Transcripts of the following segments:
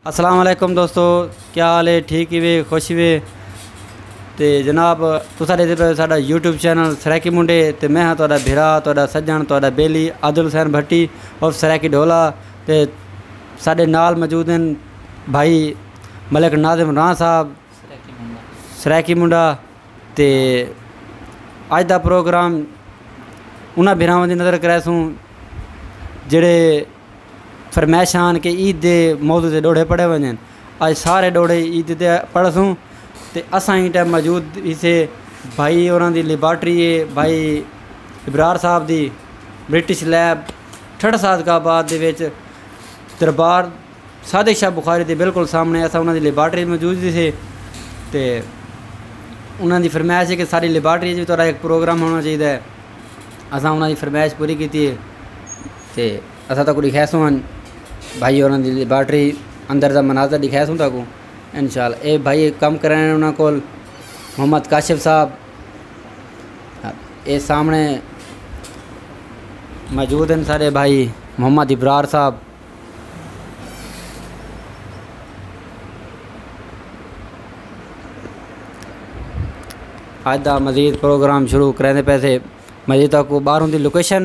السلام علیکم دوستو کیا حال ہے ٹھیک ہی وے خوش ہی وے تے جناب تسا دے پہ ساڈا یوٹیوب چینل سرائیکی منڈے تے میں ہاں تہاڈا بھرا تہاڈا سجن تہاڈا بیلی عادل حسین بھٹی اور سرائیکی ڈھولا تے ساڈے نال موجود ہیں بھائی ملک ناظم راں صاحب سرائیکی منڈا تے اج دا پروگرام انہاں بھراواں دی نظر کرے سوں جڑے فرمائش ہان کہ عید دے موضوع تے ڈوہڑے پڑھے ونجن۔ اج سارے ڈوہڑے عید تے پڑھسوں تے اساں ایں ٹائم موجود ہیسے بھائی اوراں دی لیبارٹری ہے بھائی ابرار صاحب دی برٹش لیب ٹھٹہ صادقہ آباد دے وچ دربار صادق شاہ بخاری دے بالکل سامنے اساں انہاں دی لیبارٹری موجود ہیسے تے انہاں دی فرمائش ہے کہ ساری لیبارٹری جو تہاڈا ایک پروگرام ہونا چاہیدا ہے اساں انہاں دی فرمائش پوری کیتی ہے۔ تے اساں تاکوں ڈکھیسوں ہن بھائی ہوراں دی لیبارٹری اندر دا مناظر ڈکھیسوں تاکوں ان شاء اللہ اے بھائی کم کرن انہاں کول محمد کاشف صاحب اے سامنے موجود ہیں سارے بھائی محمد ابرار صاحب اج دا مزید پروگرام شروع کریندے پیسے مزید تاکوں باہروں دی لوکیشن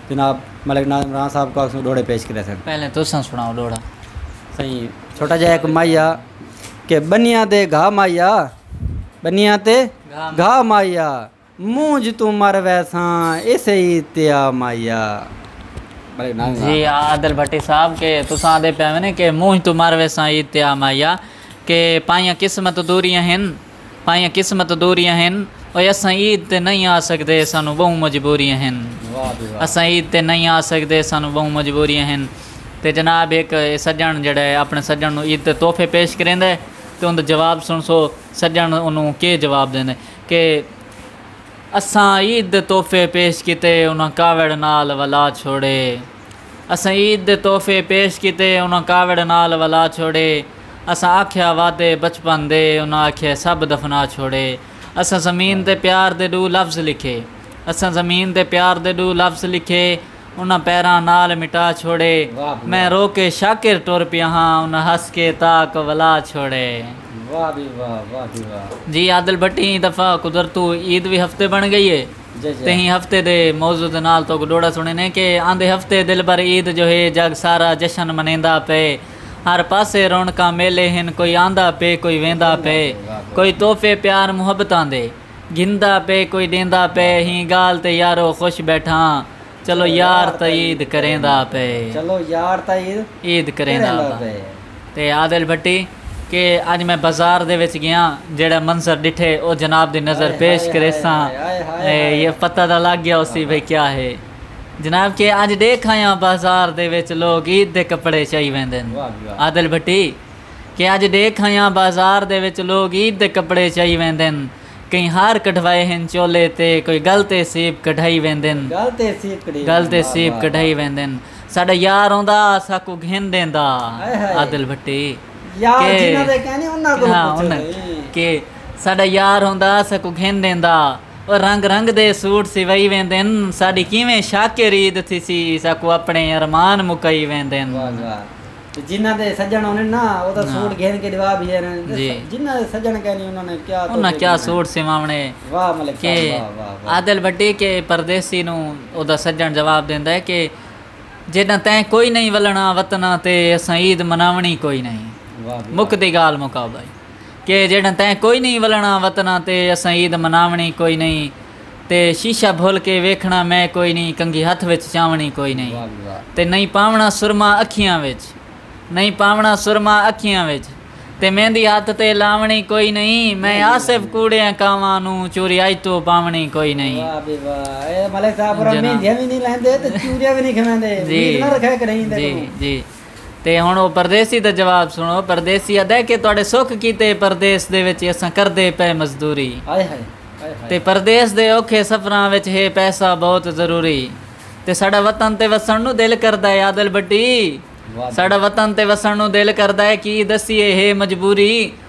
جناب ملک ناز عمران صاحب کو آکھسوں ڈوہڑے پیش کرے سن۔ پہلے تساں سنڑاؤ ڈوہڑا۔ سئیں چھوٹا جا ہک ماہیا کہ بنیاں تے گھا ماہیا بنیاں تے گھا ماہیا مونجھ توں مر ویساں ایسے ای تیا ماہیا ملک ناز عمران جی ہاں عادل بھٹی صاحب کہ تساں آندے پئے ہوے نے کہ مونجھ توں مر ویساں ای تیا ماہیا کہ پائیاں قسمت دوریاں ہن پائیاں قسمت دوریاں ہن۔ اوئے اساں عید تے نئیں آ سگدے سانوں ٻہوں مجبوریاں ہن۔ اساں عید تے نئیں آ سگدے سانوں ٻہوں مجبوریاں ہن۔ تے جناب ہک سجݨ جیڑھا ہے اپݨے سجݨ نوں عید تے تحفے پیش کریندا ہے تے اوندا جواب سݨسو سجݨ اونوں کے جواب ݙیندا ہے کہ اساں عید دے تحفے پیش کیتے انہاں کاوڑ نال ولا چھوڑے۔ اساں عید دے تحفے پیش کیتے انہاں کاوڑ نال ولا چھوڑے اساں آکھیا وعدے بچپن دے انہاں آکھیے سب دفنا چھوڑے اساں زمین تے پیار دے ݙو لفظ لکھے اساں زمین تے پیار دے ݙو لفظ لکھے انہاں پیراں نال مٹا چھوڑے میں رو کے شاکر ٹر پیا ہاں انہاں ہس کے تاک ولا چھوڑے۔ جی عادل بھٹی ایں دفعہ قدرتو عید وی ہفتے بݨ ڳئی اے۔ تہیں ہفتے دے موضوع دے نال تہاکوں ݙوہڑا سݨیندے کہ آندے ہفتے دلبر عید جو ہے جڳ سارا جشن منیندا پئے ہر پاسے رونقاں میلے ہن کوئی آندا پئے کوئی ویندا پئے کوئی تحفے پیار محبتاں دے گھندا پئے کوئی ݙیندا پئے ہیں ڳالھ تے یارو خوش ٻیٹھاں چلو یار تاں عید کریندا پئے۔ چلو یار تاں عید عید کریندا پئے۔ تے عادل بھٹی کہ اج میں بازار دے وچ گیاں جیہڑے منظر ڈٹھے او جناب دی نظر پیش کریساں یہ پتہ تاں لگ گیا ہوسی بھئی کیا ہے جناب کہ اج ڈیکھ آیاں بازار دے وچ لوگ عید دے کپڑے چائی ویندن عادل بھٹی کہ اج ڈیکھ آیاں بازار دے وچ لوگ عید دے کپڑے چائی ویندن۔ کہیں ہار کڈھوائے ہن چولے تے۔ کوئی گل تے سیب کڈھائی ویندن۔ گل تے سیب کڈھائی ویندن۔ ساڈا یار اوندا ساکوں گھن ڈیندا۔ عادل بھٹی۔ کہ۔ ساڈا یار اوندا ساکوں گھن ڈیندا۔ او رنگ رنگ دے سوٹ سوائی ویندن۔ ساڈی کیویں شاکر عید تھیسی ساکوں اپݨے ارمان مکائی ویندن۔ جنہاں دے سجݨ ہونن نا او تاں سوٹ گھن کے ݙوا بھی ہن تے جنہاں دے سجݨ کینی انہاں نے کیا توفیق انہاں کیا سوٹ سواوݨے واہ ملک صاحب واہ واہ واہ کہ عادل بھٹی کہ پردیسی نوں او دا سجݨ جواب ݙیندا ہے کہ جݙاں تیں کوئی نئیں ولݨا وطنا تے اساں عید مناوݨی کوئی نئیں مک دی ڳالھ مکا بھائی کہ جݙاں تیں کوئی نئیں ولݨا وطنا تے اساں عید مناوݨی کوئی نئیں تے شیشہ بھل کے ویکھنڑاں میں کوئی نئیں کنگھی ہتھ وچ چاونڑی کوئی نئیں تے نئیں پاونڑاں سرما اکھیاں وچ نئیں پاونڑاں سرما اکھیاں وچ تے میندی ہتھ تے لاونڑی کوئی نئیں میں آصف کوڑیاں کانواں نوں چوری اج توں پاونڑی کوئی نئیں واہ بھئی واہ اے ملک صاحب پورا جناب مہندیاں وی نئیں لہندے تے چوریاں وی نئیں کھویندے جی امید نہ رکھے کہیں دے جی کولوں جی تے ہݨ او پردیسی دا جواب سݨو، پردیسی آہدا ہے کہ تہاݙے سکھ کیتے اے پردیس دے وچ اساں کردے پئے مزدوری تے پردیس دے اوکھے سفراں وچ ہے پیسہ بہت ضروری تے ساݙا وطن تے وسݨ نوں دل کردا ہے عادل بھٹی ساݙا وطن تے وسݨ نوں دل کردا ہے کی دسیے ہے مجبوری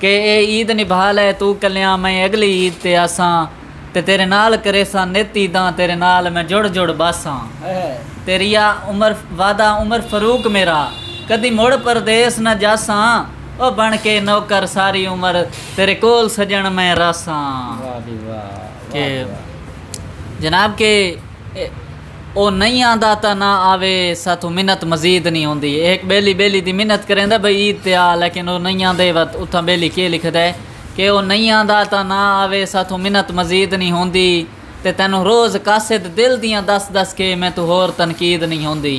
کہ اے عید نبھا لے توں کلیاں میں اگلی عید تے آساں تے تیرے نال کریساں نت عیداں تیرے نال میں جڑ جڑ باساں تیریا عمر وعدہ عمر فاروق میرا کدی مڑ پردیس نہ جاساں او بن کے نوکر ساری عمر تیرے کول سجن میں رہساں کہ جناب کہ او نئیں آندا تاں نہ آوے ساتھوں منت مزید نئیں ہوندی اے ہک ٻیلی ٻیلی دی منت کریندا بھئی عید تے آ لیکن او نئیں آندے وت اتھاں ٻیلی کیہ لکھدا اے کہ او نئیں آندا تاں نہ آوے ساتھوں منت مزید نئیں ہوندی تے تینوں روز قاصد دل دیاں دس دس کے میتوں ہور تنقید نئیں ہوندی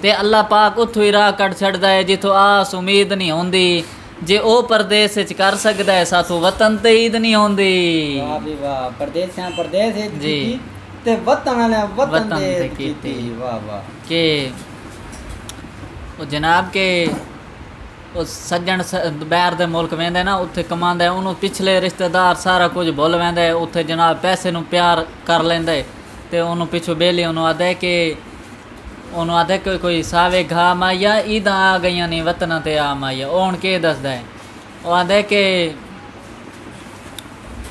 تے اللہ پاک اتھوں ہی راہ کڈھ چھڈدا اے جتھوں آس امید نئیں ہوندی جے او پردیس اچ کر سگدا ہے ساتھوں وطن تے عید نی ہوندی۔ واہ بھئی واہ پردیسیاں پردیس عید کیتی تے وطن آلیاں وطن تے عید کیتی واہ واہ۔ کہ او جناب کے او سجن باہر دے ملک ویندے نا اتھے کماندے انہوں پچھلے رشتہ دار سارا کچھ بھل ویندے اتھے جناب پیسے نو پیار کر لیندے تے انہوں پچھوں بیلی انہوں آدھے کے اونوں آدھے کوئی کوئی ساوے گھا ماہیا عیداں آ گئیاں نی وطناں تے آ ماہیا او ہن کے دسدا ہے او آدھے کہ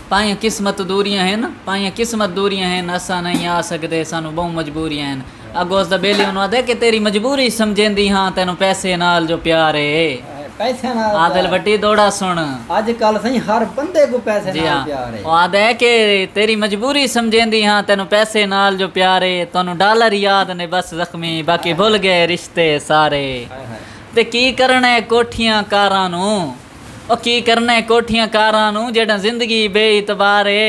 پائیاں قسمت دوریاں ہن پائیاں قسمت دوریاں ہن اساں نئیں آ سگدے سانوں بہوں مجبوریاں ہن اگو اس دا بیلی اونوں آدھے کہ تیری مجبوری سمجھیندی ہاں تینوں پیسے نال جو پیار ہے عادل وٹی دوڑا سن اج کل سائیں ہر بندے کو پیسے جی نال ہاں پیار ہے او آدھا ہے کہ تیری مجبوری سمجھیندی ہاں تینوں پیسے نال جو پیار ہے تانوں ڈالر یاد نے بس زخمی باقی بھل گئے رشتے سارے ہائے ہائے تے کی کرنا ہے کوٹھیاں کاراں نوں او کی کرنا ہے کوٹھیاں کاراں نوں جڈاں زندگی بے اعتبار ہے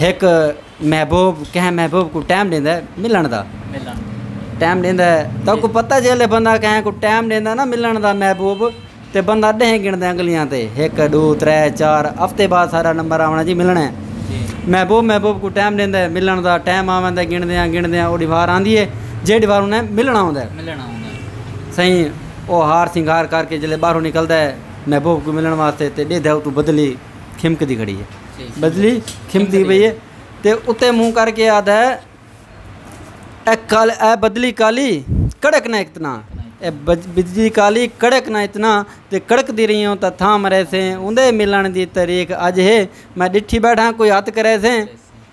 ہک محبوب کہیں محبوب کوں ٹائم ݙیندا ہے ملݨ دا ٹائم ݙیندا ہے تاکوں پتہ جیلے بندہ کہیں کوں ٹائم ݙیندا نا ملݨ دا محبوب تے بندہ ݙینہہ گݨدا انگلیاں تے ہک ݙو ترے چار ہفتے بعد سارا نمبر آوݨا جی ملݨا ہے محبوب محبوب کوں ٹائم ݙیندا ہے ملݨ دا ٹائم آوندا ہے گݨدیاں گݨدیاں اوݙی وار آندی ہے جیݙی وار انہیں ملݨا ہوندا ہے سئیں او ہار سنگھار کر کے جیلے ٻاہروں نکلدا ہے محبوب کوں ملݨ واسطے تے ݙیدھا اتوں بدلی کھمکدی کھڑی ہے بجلی کھمکدی پئی ہے تے اتے منہ کر کے آدھا ہے اے کال اے بدلی کالی کڑک نہ اتنا اے بجلی کالی کڑک نہ اتنا تے کڑک دی رہی ہوں تا تھا مرے سے اوندے ملن دی تاریخ اج ہے میں ڈٹھی بیٹھا کوئی ہاتھ کرے سے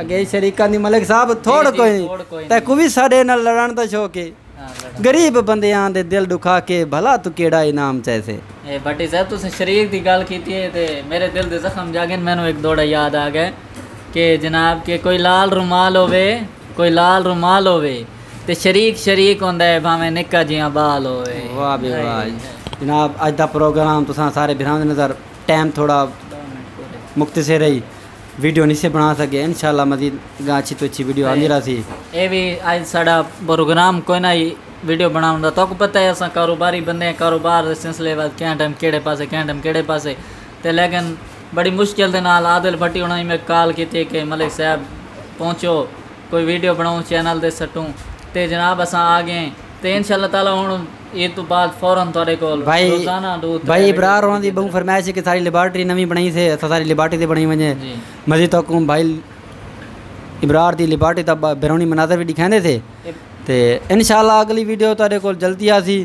اگے شریکاں دی ملک صاحب تھوڑ کوئی نہیں تیکوں وی ساڈے نال لڑن دا شوق ہے غریب بندیاں دے دل ڈکھا کے بھلا تو کیڑا انعام چاہیسے۔ بھٹی صاحب تسیں شریک دی گالھ کیتی ہے تے میرے دل دے زخم جاگن مینوں ہک دوڑا یاد آ گئے کہ جناب کہ کوئی لال رومال ہووے کوئی لال رومال ہووے تے شریک شریک ہوندا ہے بھاویں نکا جیہاں بال ہووے۔ واہ بھئی واہ جناب اج دا پروگرام تساں سارے بھراواں دے نظر ٹائم تھوڑا مختصر ہئی۔ ویڈیو نی سے بنا سکے انشاءاللہ مزید گاں اچھی تو اچھی ویڈیو آندی رہسی اے وی اج ساڈا پروگرام کوئی نہ ہی ویڈیو بناون دا تہاکوں پتہ ہے اساں کاروباری بندے ہیں کاروبار دے سلسلے وچ کیاں ٹائم کیڑے پاسے کیاں ٹائم کیڑے پاسے تے لیکن بڑی مشکل دے نال عادل بھٹی انہاں نے میک کال کیتی کہ ملک صاحب پہنچو کوئی ویڈیو بناؤں چینل دے سٹوں تے جناب اساں آ گئے تے انشاءاللہ تعالی ہن اے توں بعد فورا تہاڈے کول روزانہ دو ترے بھائی ابرار ہوراں دی بہوں فرمائش ہے کہ ساری لیبارٹری نویں بنائی سے اساں ساری لیبارٹری تے بنائی ونجے مزید تہاکوں بھائی ابرار دی لیبارٹری دا بیرونی مناظر وی ڈکھیندے سے تے انشاءاللہ اگلی ویڈیو تہاڈے کول جلدی آسی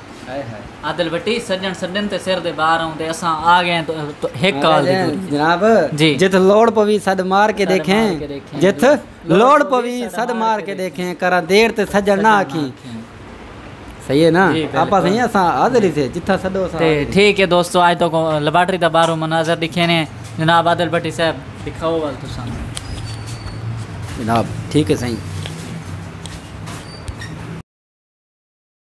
عادل بھٹی سجن سڈن تے سر دے بار آؤں دے اساں آ گئے ہیں ہک کال دی دوری جناب جی جتھ لوڑ پوی سد مار کے دیکھیں جتھ لوڑ پوی سد مار کے دیکھیں کرا دیر تے سجن نہ آکھیں صحیح ہے نا جی، آپا صحیح ہیں اساں حاضر ہی تھے جتھا سڈو اساں ٹھیک ہے دوستو آج تو لیبارٹری دا بارو مناظر دکھے نے جناب عادل بھٹی صاحب دکھاؤ وال تو سامنے جناب ٹھیک ہے صحیح